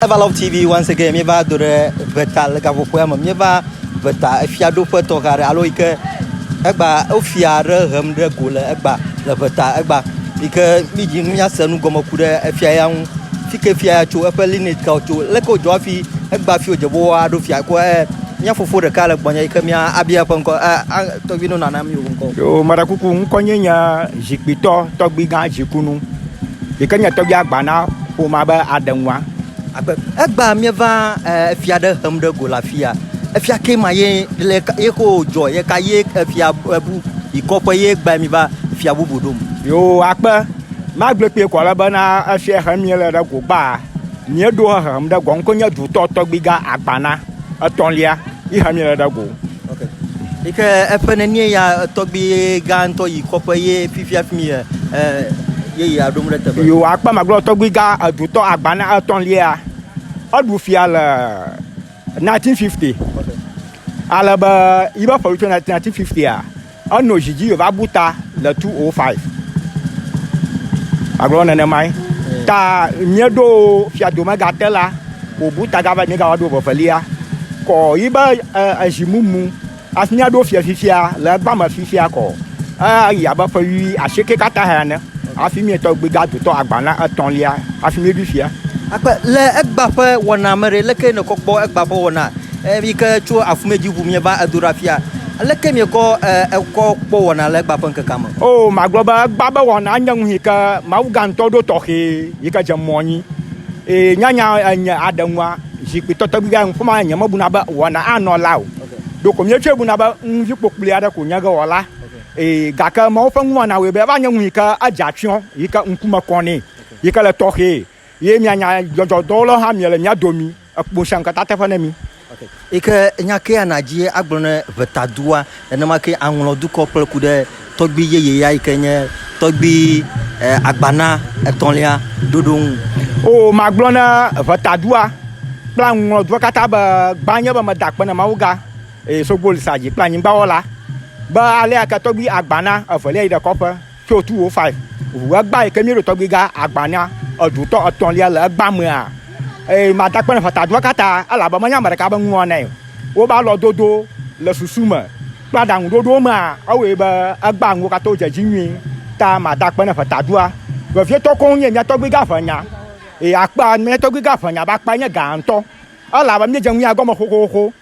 Ever Love TV once again míeva do ɖe Veta le gaƒoƒoa me míeva Veta efiaɖoƒe tɔxɛ aɖe alo yi ke egba wofia aɖe hem ɖe go le egba le Veta egba yi ke mídzi míase nu gɔme ku ɖe efia ya ŋu fi ke fia ya tso eƒe lineage kawo tso leke wodzɔ hafi egba fi wodze be woaɖo fia ko e mía fofo ɖeka le gbɔnye yi ke mía abia eƒe ŋkɔ e tɔgbi nɔ nana mi ŋkɔ. Yo marakuku ŋkɔnye nye zikpitɔ tɔgbigã dzikunu. Yi ke nye tɔgbia gba na ƒomea be aɖe nua. Agbe. Egbea míeva efia ɖe hem ɖe go le afia. Efia ke ma ye le ye ko dzɔ ye ka ye efia bu yi kɔƒe ye gba mi va fia bubu ɖom. Yo akpe. Magblɔ kpee kɔ le bena efia he mi le ɖe go gba. Mieɖo he hem ɖe go ŋko nye dutɔ tɔgbiga agbana. etɔ̃lia yi ha mi le ɖa go. Okay. Yi ke eƒe nenie ya tɔgbi gã ŋutɔ yi kɔƒe ye fifia fi mi ye ye yi aɖom ɖe teƒe. Yo akpa magblɔ tɔgbi gã edutɔ agba na etɔ̃lia. Eɖu fia le 1950. Ale be yi be ƒe tso 1950 a Enɔ zi dzi va bu ta le 205. Agblɔ nenemae. Ta mieɖo fiado megate la, wòbu ta gava nyi gawa ɖo vevelia. Kɔ yi be ezi mumu asi míaɖo fia fifia le egba me fifia kɔ. Eyi abe ƒe wui asieke katã hea ne hafi mietɔ gbi ga dotɔ agba na etɔ̃lia hafi mieɖui fia. Akpe le egba ƒe wɔna me ɖe, leke nèkɔ kpɔ egba ƒe wɔna? Eye mi ke tso afumɛ dzi ʋu mieva edo ɖa fia, aleke miekɔ ekɔ kpɔ wɔna le egba ƒe ŋkekea me? O, magblɔ be egba be wɔna nye nu yike mawuga ŋutɔ ɖo tɔxɛ yike dze mɔ nyi. Eye nyanya enye aɖe ŋua, zikpui tɔtɔgbi ga ŋu fima nye mebuna be wɔna anɔ la o. Ɖeko mietsɔe buna be ŋuvi kpokploe aɖe ko nye ge wɔla. Eye gake Mawu ƒe nuwɔna wɔe be eva nye nu yike edze atsyɔ̃ yike ŋkume kɔ nɛ yike le tɔxɛ. Ye mia nya dzɔdzɔ dɔwo lɔ hã mia le mia domi ekpo ŋshiaŋ kata teƒe ne mi. Yi ke nya kea na dzi ye agblɔ ne ʋeta dua, nenema ke aŋlɔ dukɔ kple ku ɖe tɔgbui yeye ya yi ke nye tɔgbui agbana etɔlia ɖoɖo ŋu. O magblɔ ne ʋeta dua kple aŋlɔ dua kata be, Gbã nye be me da kpe ne Mawu ga, eye sogboli sa dzi kple anyigba wɔla, be alea ke tɔgbui agbana evelia yi ɖe kɔƒe. Tso tu wo fa ʋu egba yi ke mí ɖo tɔgbi ga agba na edu tɔ etɔn lia le egba mea. Eye ma da kpɛn fata dua kata ela be menya meɖeka be ŋua nɛ. Wo ba lɔ dodo le susu me kple aɖaŋu ɖoɖo mea ewɔe be egba ŋuwo kata wo dze dzi nyui ta ma da kpɛn fata dua. Vevie tɔ koŋ nye mía tɔgbi ga ʋe nya. Eye akpa mía tɔgbi ga ʋe nya be akpa nye ga ŋutɔ. Ela be mí dze ŋuia gɔme xoxoxo.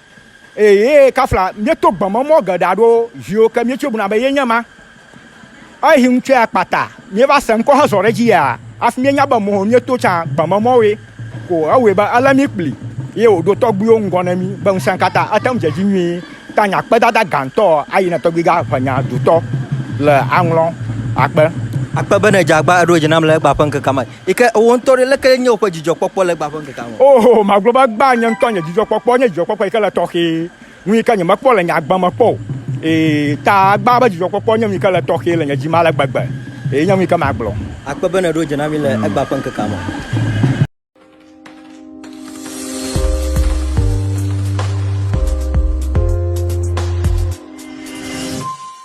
Eye ye kafla míeto gbeme mɔ geɖe aɖo viwo ke míetsoe buna be ye nye ma. Ehi ŋutsɔe akpata míeva se ŋkɔ hezɔ ɖe edzi ya hafi míenya be mɔ míeto tsã gbeme mɔwoe ko ewɔe be elé mí kpli ye wòɖo tɔgbuiwo ŋgɔ ne mí be ŋusẽkatã ate ŋu dze edzi nyuie ta nya kpedada gãtɔ ayi na tɔgbuigã ʋenya dotɔ le aŋlɔ akpe akpe bene dze agba eɖo dzi nam le egbea ƒe ŋkekea me. Yi ke wò ŋutɔ ɖe, leke nye wò ƒe dzidzɔkpɔkpɔ le egbea ƒe ŋkekea me? Oo, magblɔ be egbea nye ŋutɔ nye dzidzɔkpɔkpɔ. Enye dzidzɔkpɔkpɔ yi ke le tɔxɛ, nu yi ke nyemekpɔ le nye agbe me kpɔ o. Ee, ta egbea ƒe dzidzɔkpɔkpɔ nye nu yi ke le tɔxɛ le nye dzi me ale gbegbe. Ee, nye nu yi ke magblɔ. Akpe be nèɖo dze na mí le egbea ƒe ŋkekea me.